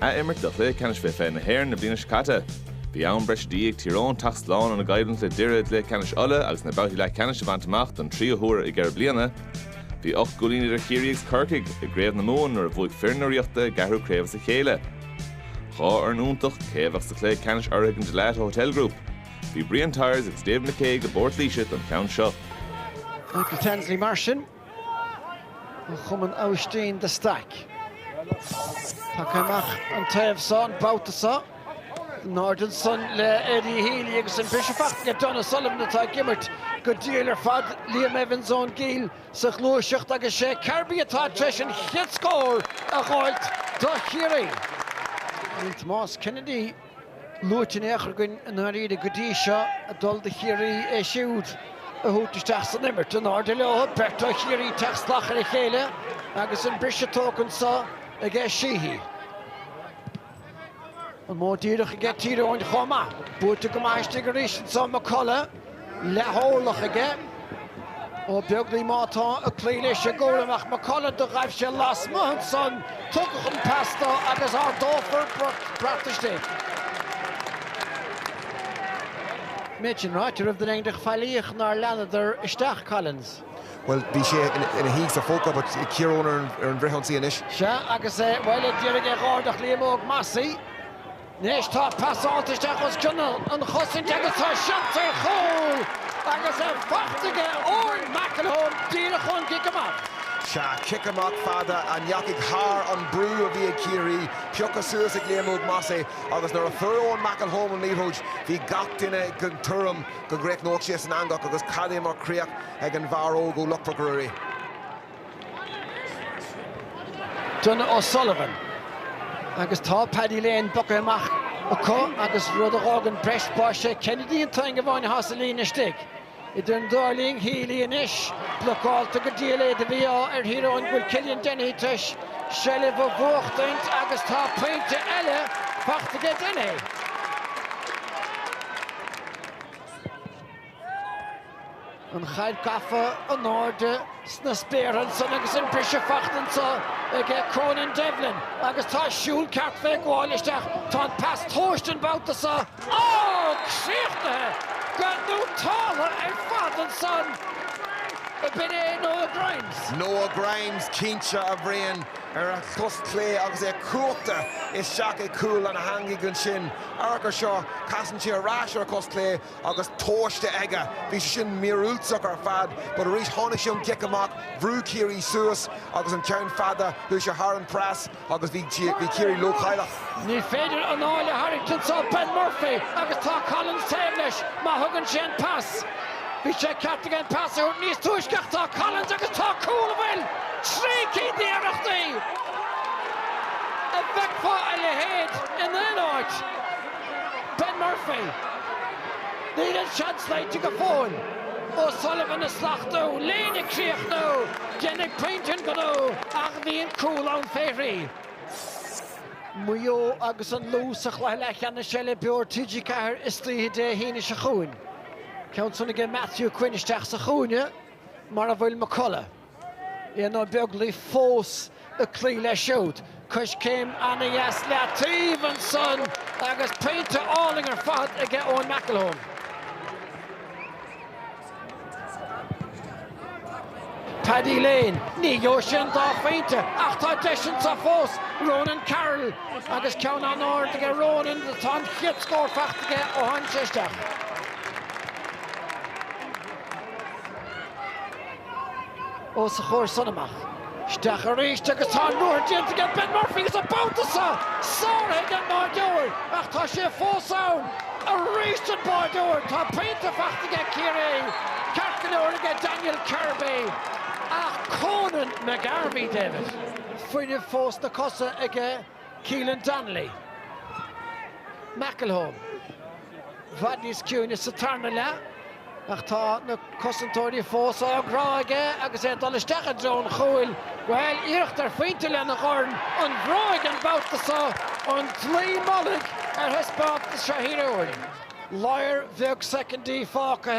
athimirt de chluiche ceannais faoi fiche na hÉireann na bliana seo caite. Bhí am breise de dhíth ag Tír Eoghain teacht slán óna gcoimhlint le Doire i gcluiche ceannais Uladh agus na babhtaí leathcheannais a bhaint amach don tríú huair i gceithre bliana. Bhí ocht gcúilín idir Chiarraí agus Corcaigh i gcraobh na Mumhan nuair a bhuaigh foireann na Ríochta a gceathrú craobh as a chéile. Dhá fhoireann iontach, cé a bheadh sa chluiche ceannais urraithe ag an Dalata Hotel Group? Bhí Brian Tyers agus David McCague i bPort Laoise don cheann seo. Michael Tansley mar sin. ó Chumann Aibhistín de Staic. Tagtha amach an taobh seo an babhta seo, in airde ansan le Eddie Healy agus an briseadh faighte aige Donagh O'Sullivan atá ag imirt go diail ar fad, Liam Evans ón gCill sa ghluaiseacht agus sé Kirby atá tar éis an chéad scór a ghabhailt do Chiarraí. Níl Tomás Kennedy. luaite in aon chor againn i ndáiríre go dtí seo, ag dul do Chiarraí é siúd a thabhairt isteach san imirt. In airde leo, beirt ó Chiarraí ag teacht salach ar a chéile agus an briseadh tógtha anseo aige Sheehy. An modh díreach aige Tír Eoghain chomh maith. Buailte go maith istigh arís anseo McCullagh. leathorlach aige. Ó Beaglaoich má tá ag cloí leis an gcúram ach McCullagh do ghaibh sé lasmuigh ansan, tugadh an pas dó agus ardófar brat istigh. Méid sin ráite raibh Dún Aingidh faillíoch nár leanadar isteach Collins. Bhuel, bhí sé ina shuí sa phóca but Tír Eoghain ar an bhfrithionsaí anois. Sea agus é, bhuel, ag iarraidh é dh'áirdeach Liam Óg Mossey. Anois tá pasáilte isteach os cionn an chosaint agus tá seans ar chúl agus é faighte aige Eoin McElholm díreach ón gcic amach. Sea, cic amach fada a ndeachaigh thar an mbrú a bhí ag Ciarraí, pioctha suas ag Liam Óg Mossey agus nuair a fuair Eoin McElholm an liathróid bhí gach duine den tuairim go gcríochnódh sé san eangach agus cad é mar chríoch ag an bhfear óg ó Loch Mhic Ruairí. Donagh O'Sullivan, agus tá Paddy Lane bogtha amach acu agus rud a dh'fhágann breis spáis ag Kennedy an t-aoinne amháin atá sa líne istigh. Idir an dá linn Healy anois blocálta go diail é de mhí-ádh ar Thír Eoghain go bhfuil Killian Dennehy tar éis seilbh a bhuachtaint agus tá pointe eile faighte aige Dennehy. An chaid gafa in airde sna spéartha ansan agus an briseadh faighte anso ag Conan Devlin agus tá siúl ceart fé gabháil isteach. Tá an pas tomhaiste an babhta so. Ó! Críochnaithe go nótáltha ar fad ansan ab in é Noah Grimes? Noah Grimes cinnte, a Bhriain, ar a chos chlé agus é cuachta isteach ag cúl na heangaí ansin. Amharc ar seo, casann sé ar ais ar a chos chlé, agus tomhaiste aige. Bhí sin míorúilteach ar fad, but arís tháinig sé ón gcic amach, bhrúigh Ciarraí suas agus an ceann fada, chuaigh sé thar an preas agus bhí Ciarraí leochaileach. Ní féidir anáil a tharraingt anso, Ben Murphy agus tá Collins taobh leis, má thugann sé an pas, bhí sé ceart aige an pas a thabhairt níos túisce ach tá Collins agus tá cúl, an bhfuil? Trí cinn d'iarrachtaí an bhfeicfeá a leithéid in aon áit. Ben Murphy, Níl an seans leáite go fóill. O'Sullivan ag slachtú, Lane ag críochnú, déanfaidh pointe an gnó ach bhí an cúl ann fé thrí. Maigh Eo agus an Lú sa chluiche leathcheannais eile beo ar TG4 istoíche Dé hAoine seo chugainn. Ceann san aige Matthew Quinn isteach sa chúinne, mar a bhfuil McCullagh. Aodhna Ó Beaglaoich fós ag cloí leis siúd. Coiscéim ana-dheas i leataobh ansan agus pointe álainn ar fad aige Eoin McElholm. Paddy Lane, ní gheobhaidh sé an dá phointe ach tá deis anso fós. Ronan Carroll agus ceann an-ard aige Ronan. Tá an chéad scór fachta aige ó tháinig sé isteach. os a chomhair san amach. Isteach arís agus tá an ruathar déanta aige Ben Murphy agus an babhta so sáraithe ag an mbáideoir ach tá sé fós ann arís an báideoir! Tá pointe fachta aige Ciarraí ceart go leor aige Daniel Kirby ach Conan McGarvey, David. Fuinneamh fós sna cosa aige. Caolan Donnelly, McElholm, i bhfad níos ciúine sa tarna leath ach tá na cosantóirí fós á gcrá aige agus é ag dul isteach i dtreo an chúil. Bhuel, iarracht ar phointe lena dhorn an bhróig an babhta so, an dlaoi mhullaigh ar thaispeántas so Thír Eoghain. Ladhar bheag soicindí fágtha